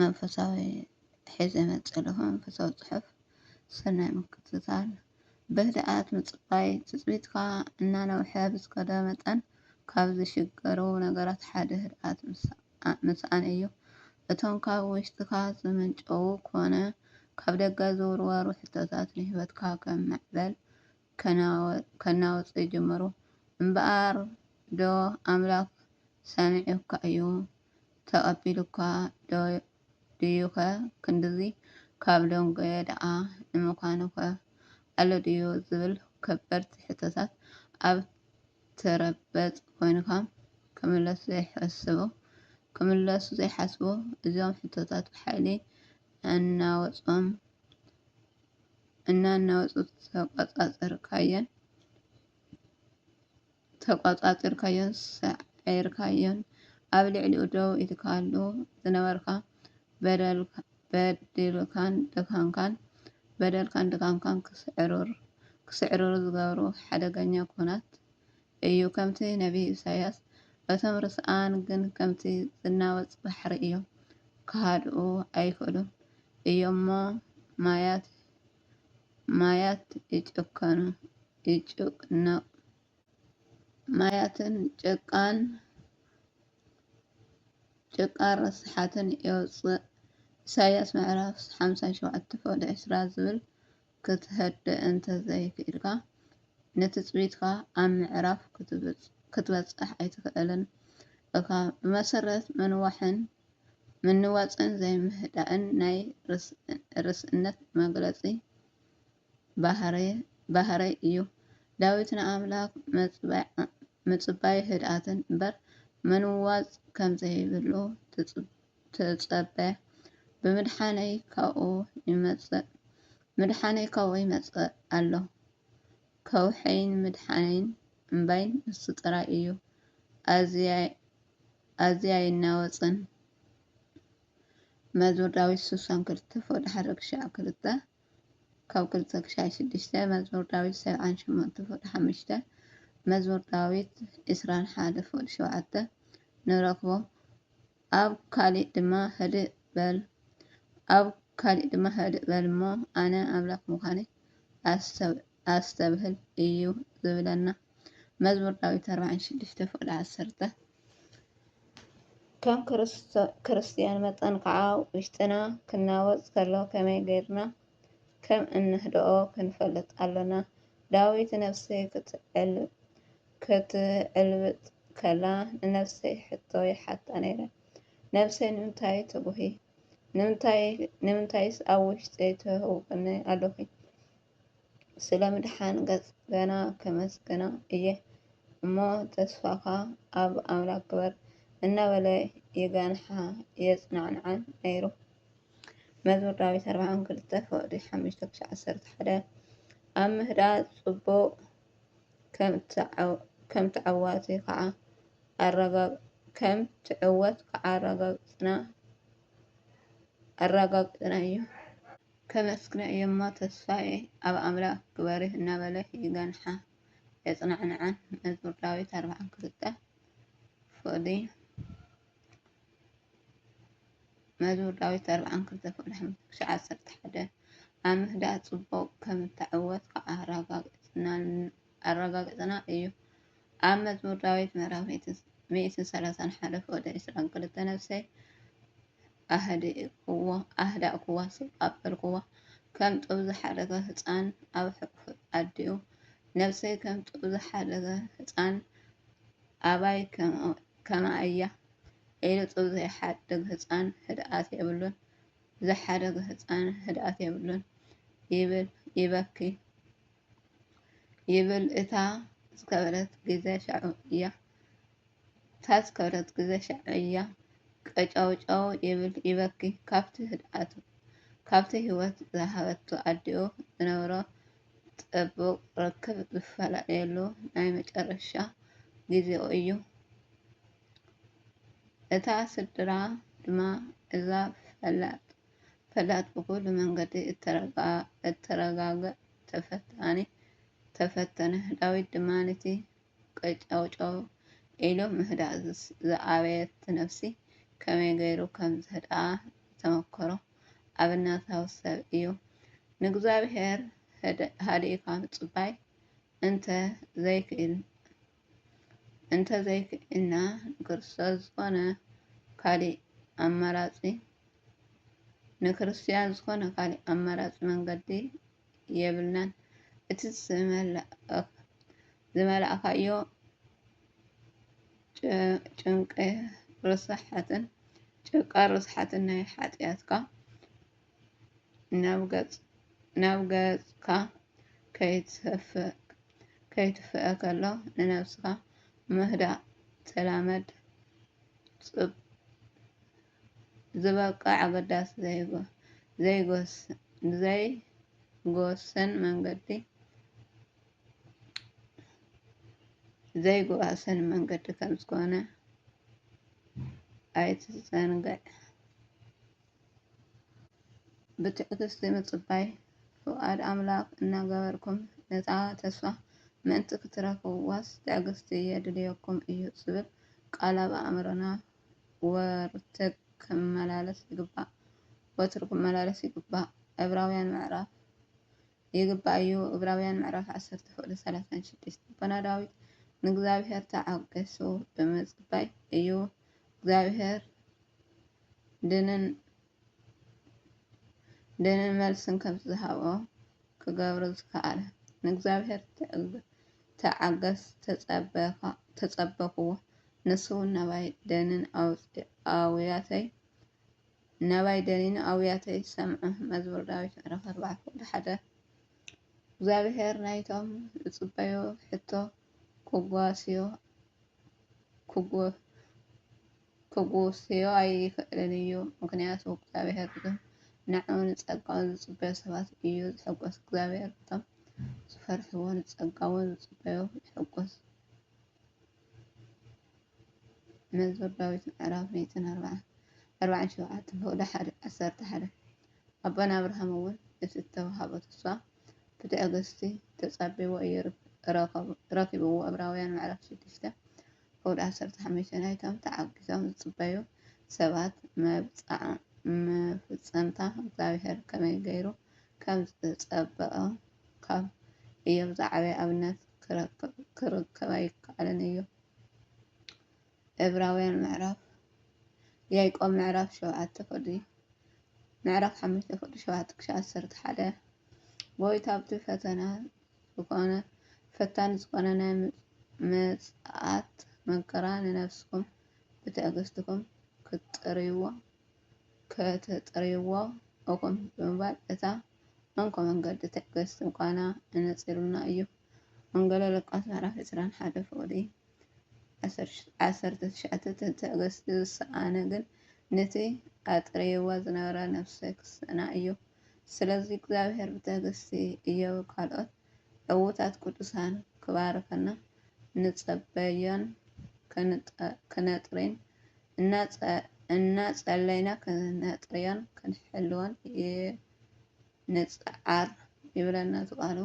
መንፈሳዊ ሒዘ መጽ ለኹ መንፈሳዊ ጽሑፍ ሰናይ ምክትታል ብህድኣት ምጽባይ ትጽቢትካ እናነውሐ ብዝከደ መጠን ካብ ዝሽገሩ ነገራት ሓደ ህድኣት ምስኣን እዩ። እቶም ካብ ውሽጥካ ዝምንጨዉ ኮነ ካብ ደገ ዝውርወሩ ሕቶታት ንህይወትካ ከም ማዕበል ከናውጹ ይጅምሩ። እምበኣር ዶ ኣምላኽ ሰሚዑካ እዩ? ተቐቢሉካ ዶ ድዩኸ? ክንድዚ ካብ ደንጎየ ደኣ ንምዃኑኸ ኣሎ ድዩ? ዝብል ከበድቲ ሕቶታት ኣብ ትረበጽ ኮይንካ ክምለሱ ዘይሓስቡ እዞም ሕቶታት ብሓይሊ ኣናወጾም እናናወጹ ተቋጻጽርካዮን ተቋጻጺርካዮን ሰዒርካዮን ኣብ ልዕሊኡ ደው ኢልካሉ ዝነበርካ በደልካን ድካምካን በደልካን ድካምካን ክስዕርር ዝገብሩ ሓደገኛ ኩናት እዩ ከምቲ ነብይ ኢሳያስ እቶም ርስኣን ግን ከምቲ ዝናወጽ ባሕሪ እዮም ክሃድኡ ኣይክእሉን እዩሞ ማያት ማያት ይጭከኑ ይጭነቁ ማያትን ጭቃን ጭቃን ረስሓትን የውጽእ ኢሳያስ ምዕራፍ ሓምሳን ሸውዓተ ክፍሊ ዕስራ ዝብል ክትሀድእ እንተ ዘይክኢልካ፣ ንትጽቢትካ ኣብ ምዕራፍ ክትበጽሕ ኣይትኽእልን እኻ። ብመሰረት ምንዋሕን ምንዋጽን ዘይምህዳእን ናይ ርእስነት መግለጺ ባህርይ እዩ። ዳዊት ንኣምላኽ ምጽባይ ህድኣትን እምበር ምንዋጽ ከም ዘይብሉ ትጸበ ብምድሓነይ ካብኡ ይመጽእ ምድሓነይ ካብኡ ይመጽእ ኣሎ ከውሕይን ምድሓነይን እምባይን ንሱ ጥራይ እዩ ኣዝያ ይናወጽን መዝሙር ዳዊት ስሳን ክልተ ፎቅ ድሓረ ክሻዕ ክልተ ካብ ክልተ ክሻዕ ሽዱሽተ መዝሙር ዳዊት ሰብዓን ሸሞንተ ፎቅ ሓሙሽተ መዝሙር ዳዊት ዕስራን ሓደ ፎቅ ሸውዓተ ንረክቦ ኣብ ካሊእ ድማ ህድእ በል ኣብ ካሊእ ድማ ህድእ በል እሞ ኣነ ኣምላኽ ምዃነይ ኣስተብህል እዩ ዝብለና። መዝሙር ዳዊት ኣርባዓን ሽዱሽተ ፍቕዲ ዓሰርተ ከም ክርስትያን መጠን ከዓ ውሽጥና ክናወፅ ከሎ ከመይ ገይርና ከም እንህድኦ ክንፈልጥ ኣሎና። ዳዊት ነፍሰይ ክትዕል ክትዕልብጥ ከላ ንነብሰይ ሕቶ ይሓታ ነይረ፣ ነብሰይ ንምንታይ ትጉሂ? ንምንታይስ ኣብ ውሽጠይ ትህውኽኒ ኣሎኺ? ስለ ምድሓን ገጽ ገና ከመስግና እየ እሞ ተስፋኻ ኣብ ኣምላክ ግበር እናበለ ይገንሓ የጽናንዓን ነይሩ። መዝሙር ዳዊት ኣርብዓ ክልተ ፍቕዲ ሓሙሽተ ክሻዕ ዓሰርተ ሓደ ኣብ ምህዳእ ጽቡቕ ከም ትዕወት ከዓ ኣረጋግፅና እዩ። ከመስግና እየ'ሞ ተስፋዬ ኣብ ኣምላክ ግበሪ እናበለ ይገንሓ የፅናዕንዓን መዝሙር ዳዊት ኣርብዓን ክልተን ፍቅዲ። መዝሙር ዳዊት ኣርብዓን ክልተ ክፍሊ ሓሙሽተ ክሳዕ ዓሰርተ ሓደ ኣብ ምህዳእ ጽቡቕ ከም እተዓወትካ ኣረጋግጸና እዩ። ኣብ መዝሙር ዳዊት ምዕራፍ ሚእትን ሰላሳን ሓደ ፍቕዲ ዕስራን ክልተ ነፍሰይ ኣህዳእኩዋ ስቕ ኣበልኩዋ፣ ከም ጡብ ዝሓደገ ህጻን ኣብ ሕቁፊ ኣዲኡ ነፍሰይ ከም ጡብ ዝሓደገ ህጻን ኣባይ ከምኣ እያ ኢሉ ጡብ ዘይሓድግ ህፃን ህድኣት የብሉን ዝሓደገ ህፃን ህድኣት የብሉን ይብል ይበኪ ይብል እታ ዝከበረት ግዘ ሻዑ እያ እታ ዝከበረት ግዘ ሻዑ እያ ቀጫውጫው ይብል ይበኪ ካብቲ ህድኣቱ ካብቲ ህይወት ዝሃበቱ ኣዲኡ ዝነብሮ ጽቡቕ ርክብ ዝፈላለየሉ ናይ መጨረሻ ግዜኡ እዩ። እታ ስድራ ድማ እዛ ፈላጥ ፈላጥ ብኹሉ መንገዲ እተረጋገእ ተፈታኒ ተፈተነ። ዳዊት ድማ ነቲ ቀጨውጨው ኢሉ ምህዳእ ዝኣበየት ነፍሲ ከመይ ገይሩ ከም ዝህድኣ ዝተመከሮ ኣብነታዊ ሰብ እዩ። ንእግዚኣብሄር ሃዲእካ ምጽባይ እንተ ዘይክኢልና ንክርስቶስ ዝኾነ ካልእ ኣማራጺ መንገዲ ኣይህሉን። የብልናን እቲ ዝመላእካዮ ጨንቃር ርስሓትን ናይ ሓጥያትካ ናብ ገጽካ ከይትፍእ ከሎ ንነብስካ ምህዳእ ተላመድ ጽብቅ ዝበቅዕ ኣገዳሲ ዘይጎስን መንገዲ ከምዝኾነ ኣይትዘንግዕ። ብትዕግስቲ ምጽባይ ፍቓድ ኣምላኽ እናገበርኩም ነታ ተስፋ ምእንቲ ክትረኽብዋስ ትዕግስቲ የድልየኩም እዩ ዝብል ቃል ኣብ ኣእምሮና ወርትግ ክመላለስ ይግባእ፣ ወትሩ ክመላለስ ይግባእ፣ ዕብራውያን ምዕራፍ ይግባእ እዩ፣ ዕብራውያን ምዕራፍ ዓሰርተ ፍቕዲ ሰላሳን ሽዱሽተ ልቦና ዳዊት ንእግዚኣብሔር ተዓገሱ ብምጽባይ እዩ እግዚኣብሔር ድንን ድንን መልስን ከምቲ ዝሃቦ ክገብሩ ዝከኣለ ንእግዚኣብሔር ተዓገስ ተጸበኽዎ ንሱውን ናባይ ደንን ኣውያተይ ናባይ ደኒኑ ኣውያተይ ሰምዑ መዝሙር ዳዊት ምዕራፍ ኣርባዕተ ቁጥሪ ሓደ እግዚኣብሔር ናይቶም ዝጽበዮ ሕቶ ክጓስዮ ክጎ ክጉስዮ ኣይኽእልን እዩ ምኽንያቱ እግዚኣብሔር ግን ንዕዑ ንጸጋኡ ዝጽበዮ ሰባት እዩ ዝሕጎስ እግዚኣብሔር በቶም ዝፈርሕዎ ንጸጋኡ ዝጽበዮ ይሕጎስ መዝሙር ዳዊት ምዕራፍ ሚእትን ኣርባዓን ኣርባዓን ሸውዓትን ክእሎ ሓደ ዓሰርተ ሓደ ኣቦና ኣብርሃም እውን እቲ እተዋህቦ ተስፋ ብትዕግስቲ ተጸቢዎ እዩ ረኪብዎ ዕብራውያን ምዕራፍ ሽዱሽተ ዑድ ዓሰርተ ሓሙሽተ ናይቶም ተዓጊቶም ዝጽበዩ ሰባት መብጽዓ-መፍጸምታ እግዚኣብሔር ከመይ ገይሩ ከም ዝጸበኦ ካብ እዮብ ዝዓበየ ኣብነት ክርከብ ኣይከኣልን እዩ። ዕብራውያን ምዕራፍ ያዕቆብ ምዕራፍ ሸውዓተ ፍቅዲ ምዕራፍ ሓሙሽተ ፍቅዲ ሸውዓተ ክሻዕ ዓሰርተ ሓደ ጎይታ ኣብቲ ፈተና ዝኾነ ፈታኒ ዝኾነ ናይ ምጽኣት መከራ ንነፍስኩም ብትዕግስትኩም ክትጥርይዎ ከተጥርይዎ እኹም ብምባል እታ እንኮ መንገዲ ትዕግስቲ ምዃና ኣነጺሩልና እዩ። ወንጌለ ሉቃስ ምዕራፍ ዕስራን ሓደ ፍቕዲ ዓሰርተ ትሽዓተ ተትዕግስቲ ዝሰኣነ ግን ነቲ ኣጥርይዋ ዝነበረ ነፍሰ ክሰና እዩ። ስለዚ እግዚኣብሔር ብትዕግስቲ እዮብ ካልኦት ዕዉታት ቅዱሳን ክባርኸና ንጸበዮን ክነጥሪን እናጸለይና ክነጥርዮን ክንሕልዎን ንጽዓር ይብለና እዚ ቃሉ።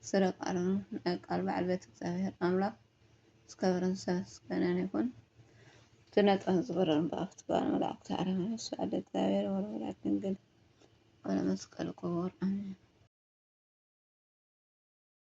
ስረ ቃሉ ናይ ቃል ባዕልቤት እግዚኣብሔር ኣምላክ ዝከበረን ዝተመስገነን ይኩን እቲ ነጠን ዝበረርን ብኣፍት ባል መላእክት ዓለም ነሱ ኣደ እግዚኣብሔር ወለወላድ ድንግል ወለመስቀል ክቡር ኣሜን።